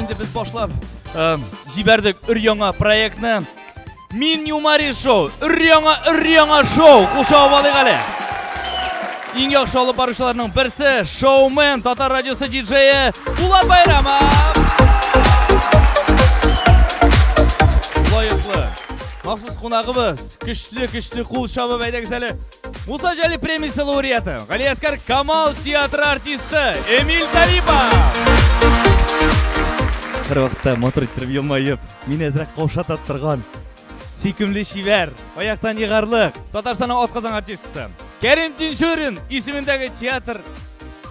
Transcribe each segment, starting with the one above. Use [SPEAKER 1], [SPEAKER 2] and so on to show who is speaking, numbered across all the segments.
[SPEAKER 1] Инде без башлап җибәрдек өр яңа проектны. Мин Юмари шоу, өр яңа, өр яңа шоу. Куша алыйк әле. Иң яхшы алып баручыларның берсе шоумен Татар радиосы диджее Булат Байрамов. Лаеклы. Махсус кунагыбыз, көчле-көчле кул чабып әйдәгез әле. Муса Җәли премиясе лауреаты, Галиәскәр Камал театры артисты Эмиль Талипов! Бер вакытта матур иттереп елмаеп, мин әзрәк каушата торган. Сөйкемле шивәр, аяктан егарлык, Татарстанның атказан артисты. Кәрим Тинчурин исемендәге театр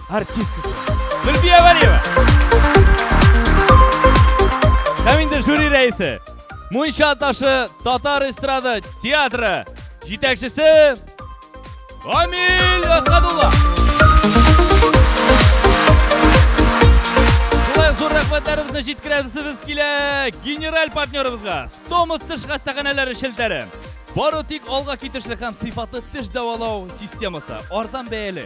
[SPEAKER 1] артисткасы. Зөлбия Валиева. Һәм инде жюри рәисе, Мунча ташы татар эстрады театры җитәкчесе Амиль Асадулла. Шулай зур рәхмәтләребезне җиткерәбез килә генераль партнерыбызга. Стомус теш хастаханәләре шелтәре. Бары тик алга китешле һәм сыйфатлы теш дәвалау системасы, арзан бәяле.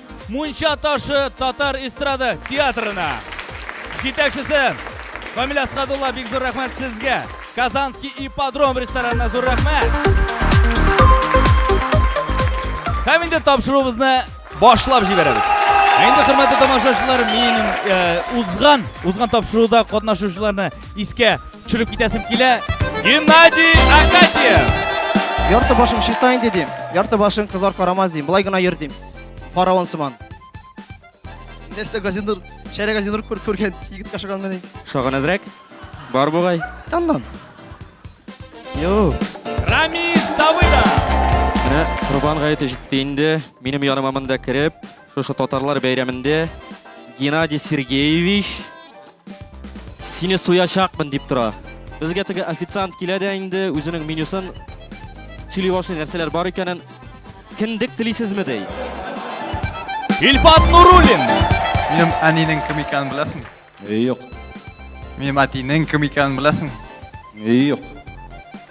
[SPEAKER 1] Мунча ташы татар эстрада театрына җитәкчесе Камил Асхадулла бик зур рәхмәт сезгә. Казанский ипподром ресторанына зур рәхмәт. Һәм инде тапшыруыбызны башлап җибәрәбез. Инде хөрмәтле тамашачылар, мин э, узган, узган тапшыруда катнашучыларны искә төшереп китәсем килә. Геннадий Акатьев! Ярты
[SPEAKER 2] башым чиста инде дим. Ярты башым кызлар карамас дим. Былай гына йөр дим. Фараон сыман. Нәрсә газинур, шәрә газинур күр күргән егет кашыган мени. Шагын әзрәк.
[SPEAKER 3] Бар бугай. Таннан.
[SPEAKER 2] Йо. Рамис
[SPEAKER 1] Давыда. Менә
[SPEAKER 3] Рубан гаете җитте инде. Минем яныма монда кереп, шушы татарлар бәйрәмендә Геннадий Сергеевич Сине суячакмын дип тора. Безгә теге официант килә дә инде үзенең менюсын сөйли башлый нәрсәләр бар икәнен. Киндек телисезме ди?
[SPEAKER 1] Илфат Нуруллин. Минем
[SPEAKER 4] әнинең кем икәнен беләсеңме? Юк.
[SPEAKER 3] Минем
[SPEAKER 4] әтинең кем икәнен беләсеңме? Юк.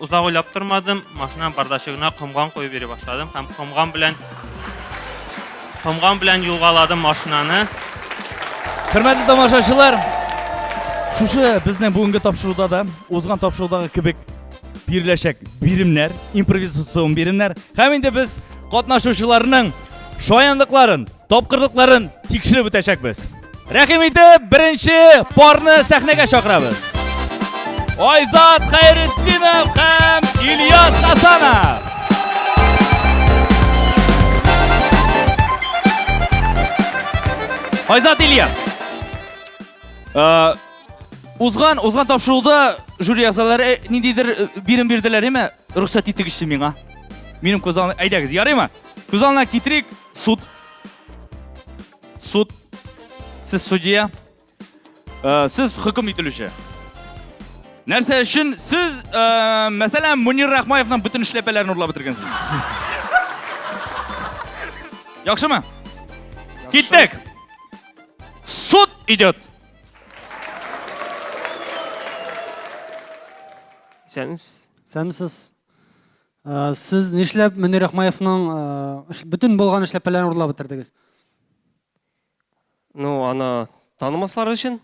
[SPEAKER 5] Озак уйлап тормадым, машинам бардачыгына комган куеп йөри башладым һәм комган белән комган белән юлгаладым машинаны.
[SPEAKER 1] Хөрмәтле тамашачылар, шушы безнең бүгенге тапшыруда да узган тапшырудагы кебек биреләчәк биремнәр, импровизацион биремнәр. Һәм инде без катнашучыларның шаянлыкларын Тапкырлыкларын тикшереп үтәчәкбез. Рәхим итеп, беренче парны сәхнәгә чакырабыз. Айзат Хәйретдинов һәм Ильяс Хасанов. Айзат Ильяс. Э, узган, узган тапшыруда жюри әгъзалары э, ниндидер э, бирем бирделәр, әмма рөхсәт итегезче миңа. Минем күз алдына, әйдәгез, ярыймы? Күз алдына китерик. Суд. Суд. Сез судья. Э, сез хөкем ителүче. Нәрсә өчен сез, э, мәсәлән, Мунир Рахмаевның бөтен эшләпәләрен урлап бетергәнсез? Яхшымы? Киттек. Суд идет.
[SPEAKER 6] Исәнмесез. Сәмсез. Ә, сез нишләп Мөнир Ахмаевның ә, бөтен булган эшләпәләрен урлап бетердегез?
[SPEAKER 3] Ну, аны танымаслар өчен.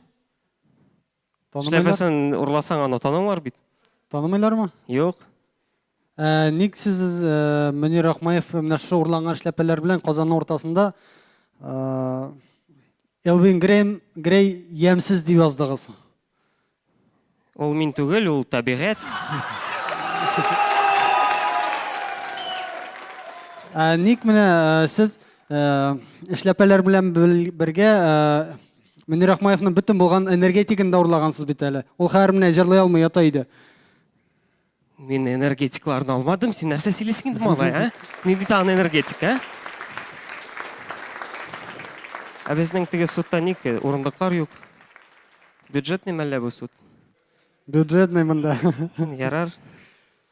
[SPEAKER 6] Эшләпәсен
[SPEAKER 3] урласаң, аны танымар бит. Танымыйлармы?
[SPEAKER 6] Юк.
[SPEAKER 3] Ә,
[SPEAKER 6] ник сез ә, Мөнир Ахмаев менә шушы урланган эшләпәләр белән Казанның уртасында ә, Элвин Грейм Грей ямьсез дип яздыгыз?
[SPEAKER 3] Ул мин түгел, ул табигать.
[SPEAKER 6] Ә ник менә э, сез э, эшләпәләр белән бел- бергә э, Мөнир Ахмаевның бөтен булган энергетигын да урлагансыз бит әле. Ул хәер менә җырлый алмый ята өйдә.
[SPEAKER 3] Мин энергетикларны алмадым, син нәрсә сөйлисең инде малай, ә? Нинди тагын энергетик, ә? Ә безнең теге судта ник урындыклар юк? Бюджетный мәллә бу суд? Бюджетный
[SPEAKER 6] монда. Ярар.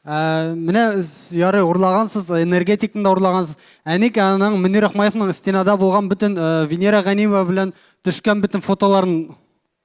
[SPEAKER 3] Ә,
[SPEAKER 6] менә ярый урлагансыз, энергетикны да урлагансыз. Ә ник аның Мөнир Рахмаевның стенада булган бөтен Венера Ганиева белән төшкән бөтен фотоларын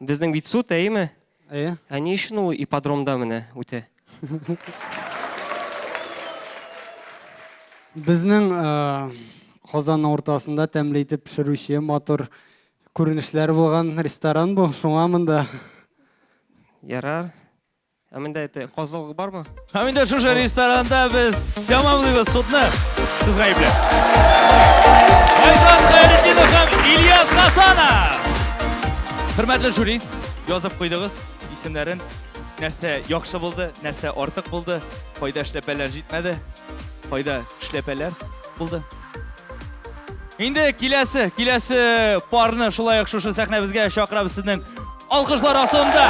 [SPEAKER 3] Безнең бит суд, әйеме? Әйе. Ә ни
[SPEAKER 6] өчен ул
[SPEAKER 3] ипподромда менә үтә?
[SPEAKER 6] Безнең Казан уртасында тәмле итеп пешерүче матур күренешләр булган ресторан бу. Шуңа монда.
[SPEAKER 3] Ярар. Ә миндә әйтә, казылык бармы? Ә миндә шушы
[SPEAKER 1] ресторанда без тәмамлыйбыз судны. Сез гаепле. Айзат Хәйретдинов һәм Ильяс Хасанов. Хөрмәтле жюри, язып куйдыгыз исемнәрен. Нәрсә яхшы булды, нәрсә артык булды, кайда эшләпәләр җитмәде, кайда эшләпәләр булды. Инде киләсе, киләсе парны шулай ук шушы сәхнәбезгә чакырабыз сезнең алкышлар астында.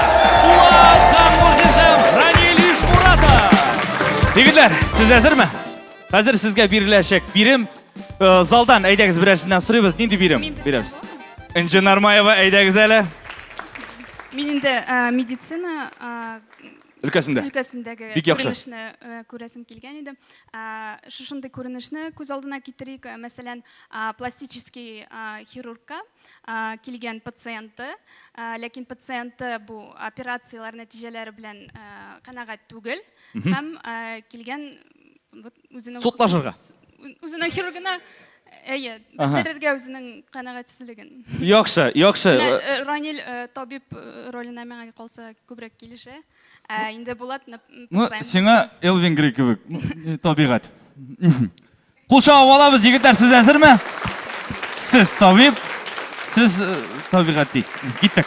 [SPEAKER 1] Булат Ханмурзин һәм Ранил Ишмуратов. Егетләр, сез әзерме? Хәзер сезгә биреләчәк бирем. Э, залдан әйдәгез берәрсеннән сорыйбыз. Нинди бирем? Бирәбез. Инжи Нармаева әйдәгез әле.
[SPEAKER 7] Мин инде э, медицина э, өлкәсендә өлкәсендәге бик яхшы күренешне э, күрәсем килгән иде э, шушындый күренешне күз алдына китерик э, мәсәлән пластический хирургка килгән пациенты ләкин пациенты бу операцияләр нәтиҗәләре белән канәгать түгел һәм килгән вот үзенең судлашырга
[SPEAKER 1] үзенең
[SPEAKER 7] хирургына әйе бетерергә үзенең канәгатьсезлеген яхшы яхшы
[SPEAKER 1] э, ранил
[SPEAKER 7] э, табиб э, роленә миңа калса күбрәк килешә ә инде булат ну сиңа
[SPEAKER 1] элвин грей кебек табигать кул чагып алабыз егетләр сез әзерме сез табиб сез табигать ди киттек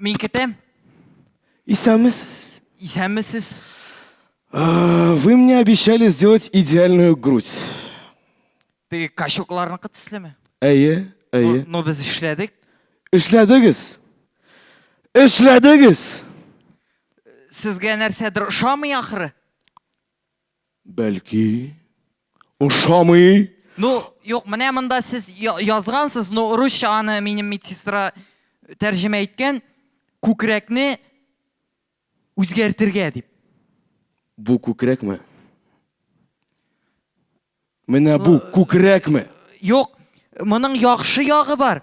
[SPEAKER 8] Мин китәм. Исәнмесез.
[SPEAKER 9] Исәнмесез.
[SPEAKER 8] А,
[SPEAKER 9] Вы мне обещали сделать идеальную грудь.
[SPEAKER 8] Теге качукларныкы төслеме? Әйе, Ну,
[SPEAKER 9] әйе. ну без
[SPEAKER 8] эшләдек. Эшләдегез.
[SPEAKER 9] Эшләдегез.
[SPEAKER 8] Сезгә нәрсәдер ошамый ахры. Бәлки,
[SPEAKER 9] Ошамый. Ну,
[SPEAKER 8] юк, менә монда сез язгансыз, но русча аны минем медсестра тәрҗемә иткән, күкрәкне үзгәртергә дип. Бу
[SPEAKER 9] күкрәкме? Менә бу күкрәкме? Юк,
[SPEAKER 8] моның яхшы ягы бар.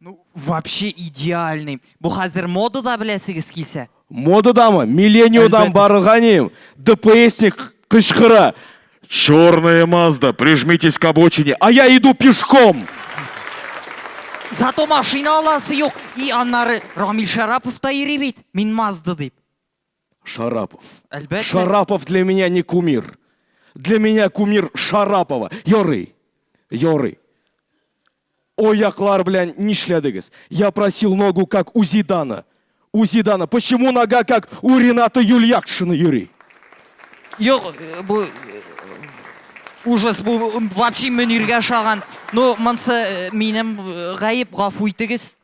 [SPEAKER 10] Ну,
[SPEAKER 8] вообще идеальный. Бу хәзер модада беләсегез килсә. Модадамы?
[SPEAKER 10] Миллениодан Әлбәттә. барырга ним. ДПСник кычкыра. Черная Мазда, прижмитесь к обочине, а я иду пешком.
[SPEAKER 8] Зато машина аласы юк. И аннары Рамил Шарапов та йөри бит. Мин Мазда дип. Шарапов.
[SPEAKER 10] Әлбәттә.
[SPEAKER 8] Шарапов для меня
[SPEAKER 10] не кумир. Для меня кумир Шарапова. Ярый. Ярый. Ояклар белән нишләдегез? Я просил ногу как у Зидана. У Зидана. Почему нога как у Рената Юльякшина йөри? Юк,
[SPEAKER 8] э, бу э, ужас бу вообще мөниргә ошаган. Ну, монсы э, минем гаеп, гафу итегез.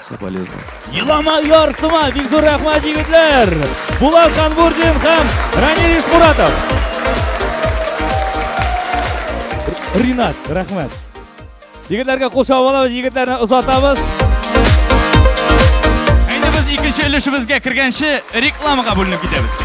[SPEAKER 10] Соболезно. Елама ярсыма,
[SPEAKER 1] бик зур рәхмәт егетләр! Булат Ханбурдин һәм Ранилис Муратов. Ринат, рәхмәт. Егетләргә кул чабалабыз, егетләрне озатабыз. Әйдә без икенче өлешебезгә кергәнче рекламага бүленеп китәбез.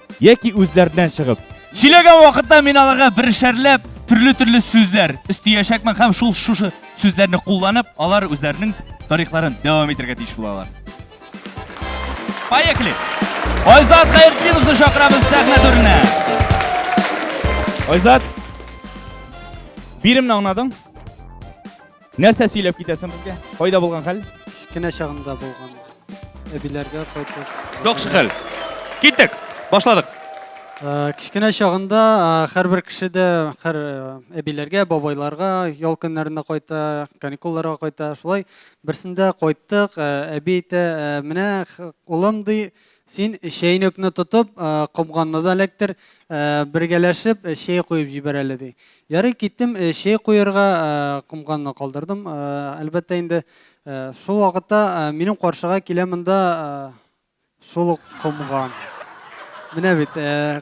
[SPEAKER 1] яки үзләреннән чыгып. Сөйләгән вакытта мин аларга берешәрләп төрле-төрле сүзләр өстиячәкмен һәм шул шушы сүзләрне кулланып, алар үзләренең тарихларын дәвам итәргә тиеш булалар. Поехали! Айзат Хәйрдиновны чакырабыз сәхнә түренә. Айзат, биремне аңладың? Нәрсә сөйләп китәсең безгә? Кайда булган хәл? Кечкенә чагында
[SPEAKER 6] булган. Әбиләргә кайтып. Яхшы хәл.
[SPEAKER 1] Киттек. Башладык. Э,
[SPEAKER 6] кечкенә чагында э, һәрбер кеше дә һәр э, әбиләргә, бабайларга ял көннәренә кайта, каникулларга кайта. Шулай берсендә кайттык, әби әйтә, менә улым ди, Син чәйнекне тотып, комганны да эләктер, бергәләшеп чәй куеп җибәр әле, ди. Ярый, киттем, чәй куерга комганны калдырдым. Әлбәттә инде, шул вакытта минем каршыга килә монда шул ук комган. Менә бит,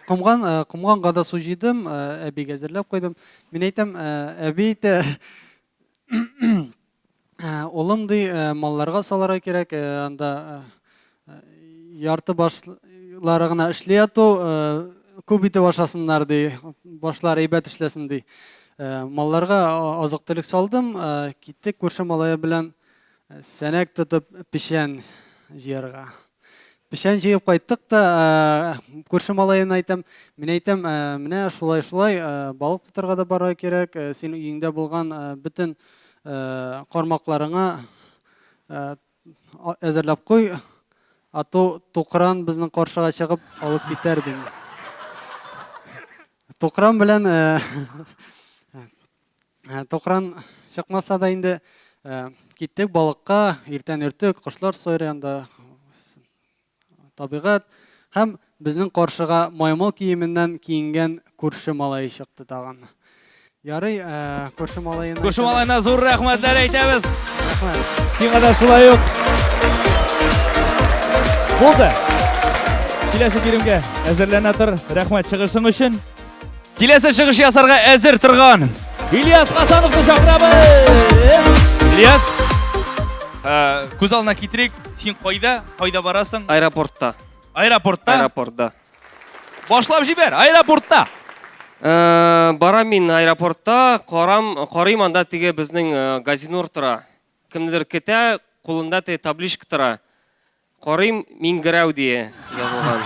[SPEAKER 6] комган, комганга да су җыйдым, әбигә әзерләп куйдым. Мин әйтәм, әби әйтә, Улым ди, малларга салырга кирәк, анда ярты башлары гына эшли яту, күп итеп ашасыннар ди, башлар әйбәт эшләсен ди. Малларга азык-төлек салдым, киттек күрше малае белән сәнәк тотып печән җыярга. печән җыеп кайттык та күрше малаена әйтәм мин әйтәм менә шулай шулай балык тотарга да барырга кирәк син өеңдә булган бөтен кармакларыңа әзерләп куй ату тукран безнең каршыга чыгып алып китәр дим тукран белән Ә, Токран чыкмаса да инде ә, киттек балыкка, иртән өртек, кошлар сайраганда табигать һәм безнең каршыга маймыл киеменнән киенгән күрше малае чыкты тагын. Ярый, ә, күрше малаена Күрше малайына зур
[SPEAKER 1] рәхмәтләр әйтәбез. Рәхмәт.
[SPEAKER 6] Сиңа да шулай
[SPEAKER 1] ук. Булды. Киләсе биремгә әзерләнә тор. Рәхмәт чыгышың өчен. Киләсе чыгыш ясарга әзер торган Ильяс Хасановны чакырабыз. Ильяс, ә, күз алдына китерик, син кайда, кайда барасың? Аэропортта.
[SPEAKER 3] Аэропортта.
[SPEAKER 1] Аэропортта. Башлап җибәр, аэропортта. Ә,
[SPEAKER 3] барам мин аэропортта, карам, карыйм анда теге безнең ә, газинур тора. Кемнедер көтә, кулында теге табличка тора. Карыйм, Миңгерәү дие язылган.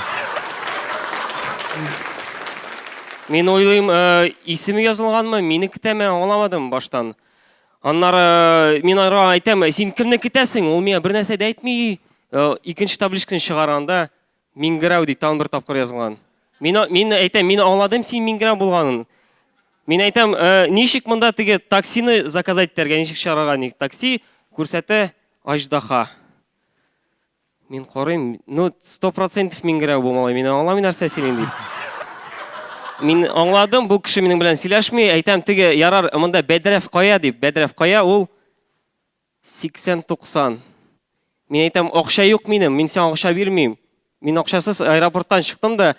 [SPEAKER 3] Мин уйлыйм, э, исеме язылганмы, мине китәме, аңламадым баштан. Аннары э, мин ара әйтәм, «Э, син кемне китәсең? Ул миңа бер нәрсә дә әйтми. Э, Икенче табличканы чыгарганда Миңгерәү ди тагын бер тапкыр язылган. Мин а- мин әйтәм, мин аңладым син Миңгерәү булганын. Мин әйтәм, «Э, ничек монда теге таксины заказать итәргә, ничек чыгарырга ник такси? Күрсәтә Аждаха. Мин карыйм, ну, сто процентов мин генә бу малай, мин аңламый нәрсә сөйлим дип. Мин аңладым, бу кеше минем белән сөйләшми, әйтәм, теге ярар, монда бәдрәф кая дип, бәдрәф кая ул 80-90. Мин әйтәм, акча юк минем, мин сиңа акча бирмим. Мин акчасыз аэропорттан чыктым да,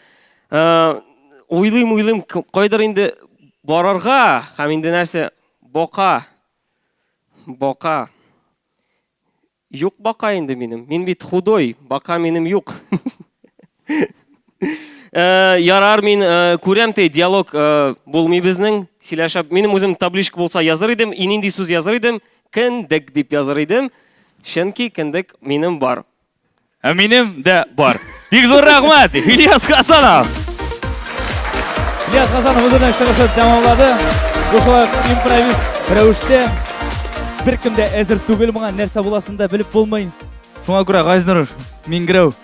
[SPEAKER 3] э, уйлыйм, уйлыйм, кайдыр инде барырга, һәм инде нәрсә, бока, бока. Юк бака инде минем. Мин бит худой, бака минем юк. Э, ярар мин э, күрәм те диалог э, булмый безнең сөйләшә минем үзем табличка булса языр идем и нинди сүз языр идем кендек дип языр идем чөнки кендек минем бар Ә минем
[SPEAKER 1] дә бар. Бик зур рәхмәт, Ильяс Хасанов! Ильяс Хасанов үзенең чыгышын тәмамлады. Бу шулай импровист рәвештә. Беркем дә әзер түгел моңа, нәрсә буласын да белеп булмый. Шуңа күрә Газнур Мингрәү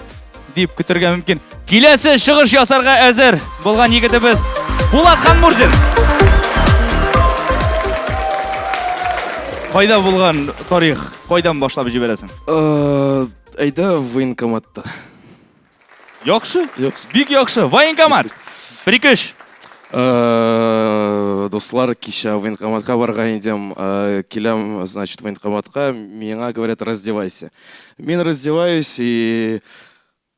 [SPEAKER 1] дип көтергә мөмкин. Киләсе чыгыш ясарга әзер булган егетебез Булат Ханмурзин. Кайда булган тарих? Кайдан башлап җибәрәсең? Э,
[SPEAKER 10] Әйдә военкоматта.
[SPEAKER 1] Яхшы? Яхшы. Бик яхшы. Военкомат. Бер ике өч. Э,
[SPEAKER 10] Дуслар, кичә военкоматка барга идем. Э, Киләм, значит, военкоматка. Миңа говорят, раздевайся. Мин раздеваюсь и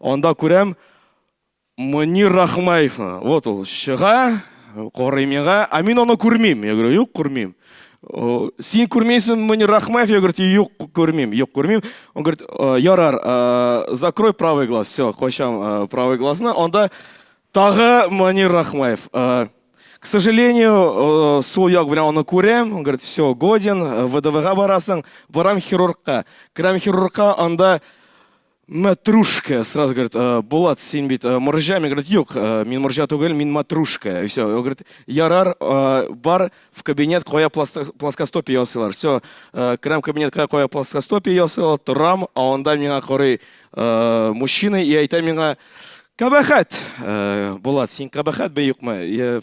[SPEAKER 10] Анда күрәм, Мөнир Рахмаевны. Вот ул чыга, карый миңа, а мин аны күрмим. Я говорю, юк, күрмим. Син күрмейсің Мөнир Рахмаев? Я говорю, юк, күрмим, юк, күрмим. Он говорит, ярар, закрой правый глаз. Все, кочам правый глазны. Анда тагы Мөнир Рахмаев. К сожалению, э, сол як белән аны күрәм, он говорит, все, годен, э, ВДВга барасың, барам хирургка. Керәм хирургка, анда Матрушка, сразу говорит, «Э, Булат, син бит э, моржа, мен говорит, юк, э, мин моржа түгел, мин матрушка. И все, говорит, ярар, э, бар в кабинет, кая пласта- плоскостопие ясыйлар. Все, э, керәм кабинетка, кая плоскостопие ясыйлар, торам, а анда миңа карый э, мужчина и әйтә миңа, кабахат, Э, Булат, син кабахат бе юкмы? Я-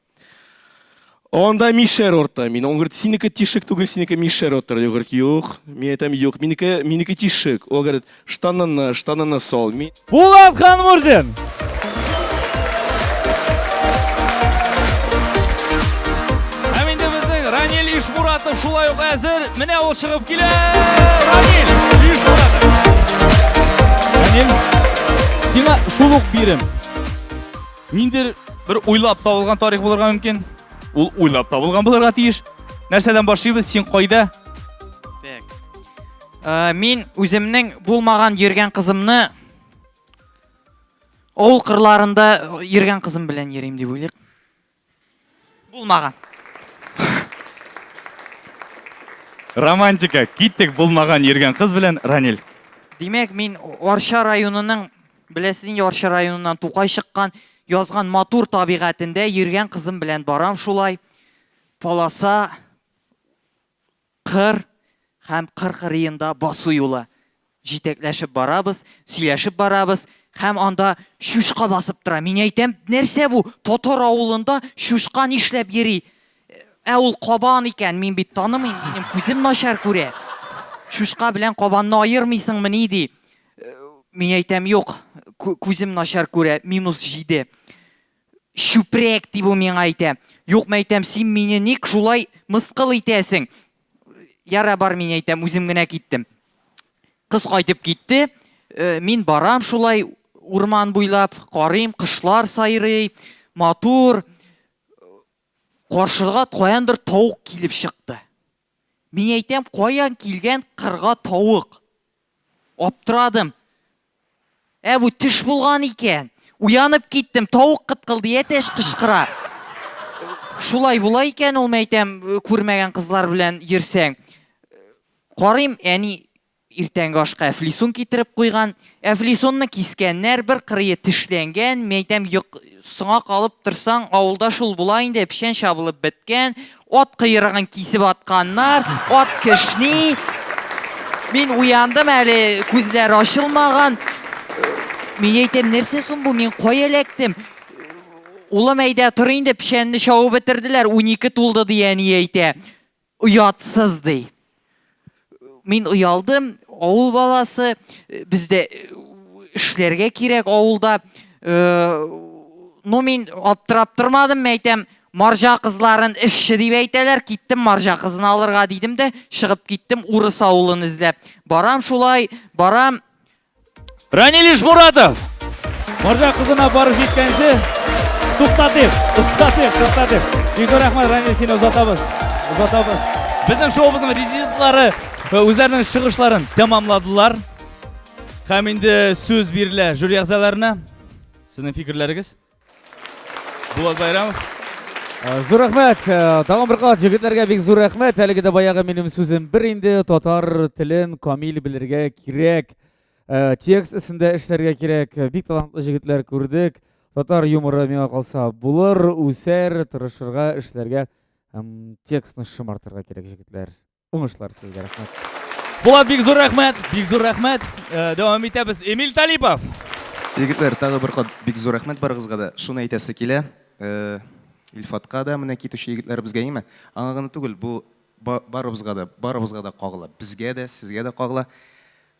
[SPEAKER 10] Анда мишәр орта. Мин он говорит, синеке тишек түгел, синеке мишәр отыр. Я говорит, юк. Мин әйтәм, юк, минеке, минеке тишек. Ул говорит, штанына, штанына сал.
[SPEAKER 1] Мин...
[SPEAKER 10] Булат Ханмурзин!
[SPEAKER 1] Һәм инде безнең Ранил Ишмуратов шулай ук әзер. Менә ул чыгып килә. Ранил Ишмуратов. Ранил, сиңа шул ук бирем. Ниндер бер уйлап табылган тарих булырга мөмкин. Ул уйлап табылган булырга тиеш. Нәрсәдән башлыйбыз? Син кайда? Ә,
[SPEAKER 8] мин үземнең булмаган йөргән кызымны авыл кырларында йөргән кызым белән йөрим дип уйлыйк. Булмаган.
[SPEAKER 1] Романтика. Киттек булмаган йөргән кыз белән Ранил. Димәк, мин
[SPEAKER 8] Арча районының, беләсез инде Арча районыннан Тукай чыккан, язган матур табигатендә йөргән кызым белән барам шулай. Полоса Кыр һәм Кыр кырыенда басу юлы. Җитәкләшеп барабыз, сөйләшеп барабыз һәм анда чучка басып тора. Мин әйтәм, нәрсә бу, татар авылында чучка нишләп йөри? Ә ул кабан икән, мин бит танымыйм, минем күзем начар күрә. Чучка белән кабанны аермыйсыңмыни, ди. Мин әйтәм, юк, күзем начар күрә, минус җиде. Чүпрәк, ди бу миңа әйтә. Юк, мәйтәм, син мине ник шулай мыскыл итәсең? Яра бар, мин әйтәм, үзем генә киттем. Кыз кайтып китте. Э, мин барам шулай урман буйлап, карыйм, кышлар сайрый, матур. Каршыга каяндыр тавык килеп чыкты. Мин әйтәм, каян килгән кырга тавык? Аптырадым. Ә бу төш булган икән. Уянып киттем, тавык кыткылдый, әтәч кычкыра. Шулай була икән ул, мәйтәм, күрмәгән кызлар белән йөрсәң. Карыйм, әни Иртәнге ашка әфлисун китереп куйган. Әфлисунны кискәннәр, бер кырые тешләнгән, мәйтәм, соңа калып торсаң, авылда шул була инде, печән чабылып беткән, ат кыерыгын кисеп атканнар, ат кешни. Мин уяндым әле, күзләр ачылмаган. Мин әйтәм, нәрсә соң бу, мин кая эләктем? Улым әйдә, тор инде, печәнне чабып бетерделәр, унике тулды, ди әни әйтә. Оятсыз, ди. Мин оялдым, авыл баласы, бездә эшләргә кирәк авылда. Ну, мин аптырап тормадым, әйтәм, маржа кызларын эшче дип әйтәләр, киттем маржа кызын алырга дидем дә, чыгып киттем урыс авылын эзләп. Барам шулай, барам,
[SPEAKER 1] Ранилиш Муратов! Маржа кызына барып җиткәнче туктатыйк, туктатыйк, туктатыйк. Бик зур рәхмәт, Раниль, сине озатабыз. Озатабыз. Безнең шоубызның резидентлары э, үзләренең чыгышларын тәмамладылар. Һәм инде сүз бирелә жюри әгъзаларына. Сезнең фикерләрегез? Булат Байрамов. Э, зур
[SPEAKER 11] рәхмәт. Э, тагын бер кат җегетләргә бик зур рәхмәт. Әлеге дә баягы минем сүзем бер инде татар телен камил белергә кирәк. Э, текст өстендә эшләргә кирәк. Бик талантлы җегетләр күрдек. Татар юморы миңа калса булыр, үсәр, тырышырга, эшләргә һәм текстны шомартырга кирәк җегетләр. Уңышлар сезгә, рәхмәт. Булат, бик зур
[SPEAKER 1] рәхмәт, бик зур рәхмәт. Э, дәвам итәбез. Эмиль Талипов. Егетләр,
[SPEAKER 12] тагы бер кат бик зур рәхмәт барыгызга да. Шуны әйтәсе килә. Э, Илфатка да менә китүче егетләребезгә име? Аңа гына түгел, бу барыбызга да, барыбызга да кагыла. Безгә дә, сезгә дә кагыла.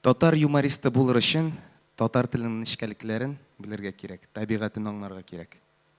[SPEAKER 12] Татар юмористы булыр өчен татар теленең нечкәлекләрен белергә кирәк, табигатен аңларга кирәк.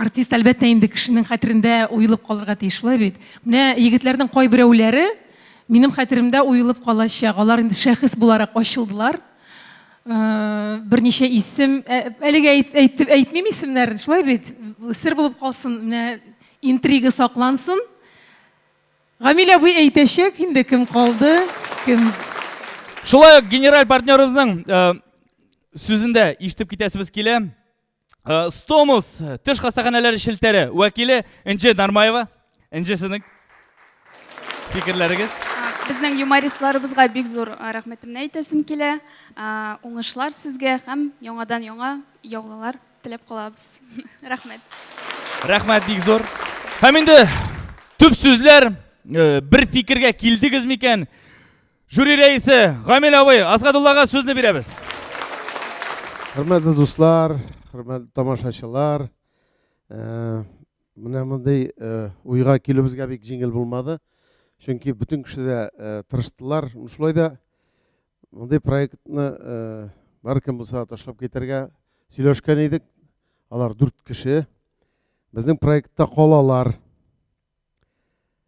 [SPEAKER 13] Артист, әлбәттә, инде кешенең хәтерендә уелып калырга тиеш, шулай бит? Менә егетләрнең кайберәүләре минем хәтеремдә уелып калачак. Алар инде шәхес буларак ачылдылар. Э, берничә исем, э, әлегә әйтеп әйтмим исемнәрен, шулай бит? Сер булып калсын, менә интрига саклансын. Гамилә абый әйтәчәк инде кем калды, кем. Шулай
[SPEAKER 1] ук генераль партнерыбызның э, сүзендә ишетеп китәсебез килә. Э, Стомус теш хастаханәләре шелтәре вәкиле Энҗе Нармаева. Энҗе сезнең фикерләрегез? Безнең юмористларыбызга
[SPEAKER 7] бик зур э, рәхмәтемне әйтәсем килә. Э, уңышлар сезгә һәм яңадан яңа яулылар теләп калабыз. Рәхмәт. Рәхмәт
[SPEAKER 1] бик зур. Һәм инде төп сүзләр бер фикергә килдегез микән? Жюри рәисе Гамил абый Асгадуллага сүзне бирәбез. Хөрмәтле
[SPEAKER 14] дуслар, хөрмәтле тамашачылар, э, менә мондый э, уйга килүебезгә бик җиңел булмады. Чөнки бөтен кеше дә э, тырыштылар. Шулай да мондый проектны бар кем булса ташлап китәргә сөйләшкән идек. Алар дүрт кеше. Безнең проектта калалар.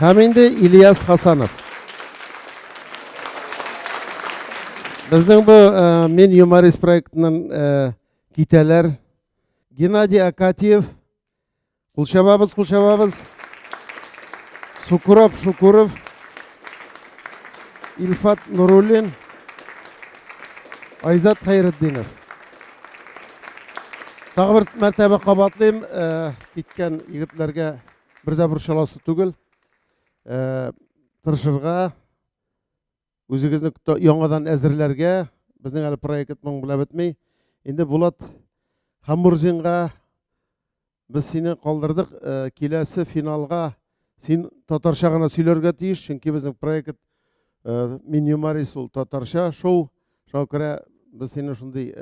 [SPEAKER 14] Һәм инде Ильяс Хасанов. Безнең бу Мин юморист проектының китәләр. Геннадий Акатьев. Кул чабабыз, кул чабабыз. Сукуров Шукуров. Илфат Нуруллин. Айзат Хәйретдинов. Тагы бер мәртәбә кабатлыйм. киткән егетләргә бер дә борчыласы түгел. Э, тырышырга, үзегезне яңадан әзерләргә, безнең әле проект моң белән бетми. Инде Булат Хамурзинга без сине калдырдык, э, киләсе финалга син татарча гына сөйләргә тиеш, чөнки безнең проект э, Минимарис ул татарча шоу. Шуңа күрә без сине шундый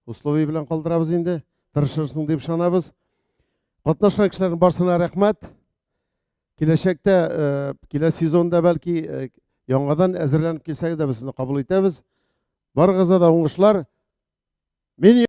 [SPEAKER 14] условие белән калдырабыз инде. Тырышырсың дип ышанабыз. Катнашкан кешеләрнең барсына рәхмәт. Киләчәктә, э, килә сезонда бәлки э, яңадан әзерләнеп килсәгез дә без сезне кабул итәбез. Барыгызга да уңышлар. Мин